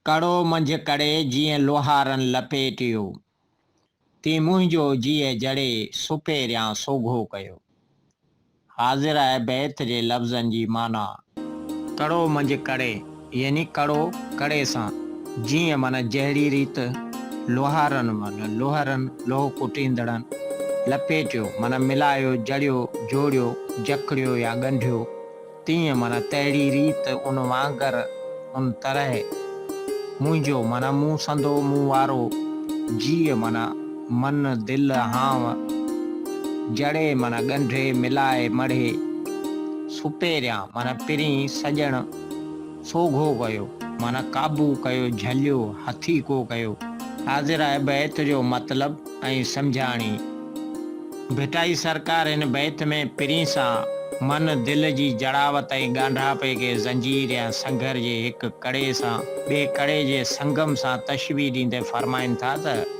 ڪڙو منجهه ڪڙي جيئن لوهارن لپيٽيو، تين منهنجو جيء جڙي سپهريان سوگهو ڪيو. حاضره بيت جي لفظن جي معنيٰ. ڪڙو منجهه ڪڙي يعني ڪڙو ڪڙي سان، جيئن معنيٰ جهڙي ريت لوهارن معنيٰ لوهرن، لوهه ڪٽيندڙن، لپيٽيو معنيٰ ملايو، جڙيو، جوڙيو، جڪڙيو يا ڳنڍيو. تيئن معنيٰ تهڙي ريت، ان وانگر، ان طرح، منهنجو معنيٰ مون سندو، مون وارو، جيء معنيٰ من، دل، هانء، جڙي معنيٰ ڳنڍي، ملائي، مڙهي، سپهريان معنيٰ پرين، سڄڻ. سوگهو ڪيو، معنيٰ قابو ڪيو، جهليو، هٿي ڪو ڪيو. حاضراء بيت جو مطلب ۽ سمجهاڻي. ڀٽائي سرڪار هن بيت ۾ پرين سان من، دل جي جڙاوت ۽ ڳانڍاپي کي زنجير يا سنگهر جي هڪ ڪڙي سان ٻئي ڪڙي جي سنگم سان تشبيهه ڏيندي فرمائين ٿا ته.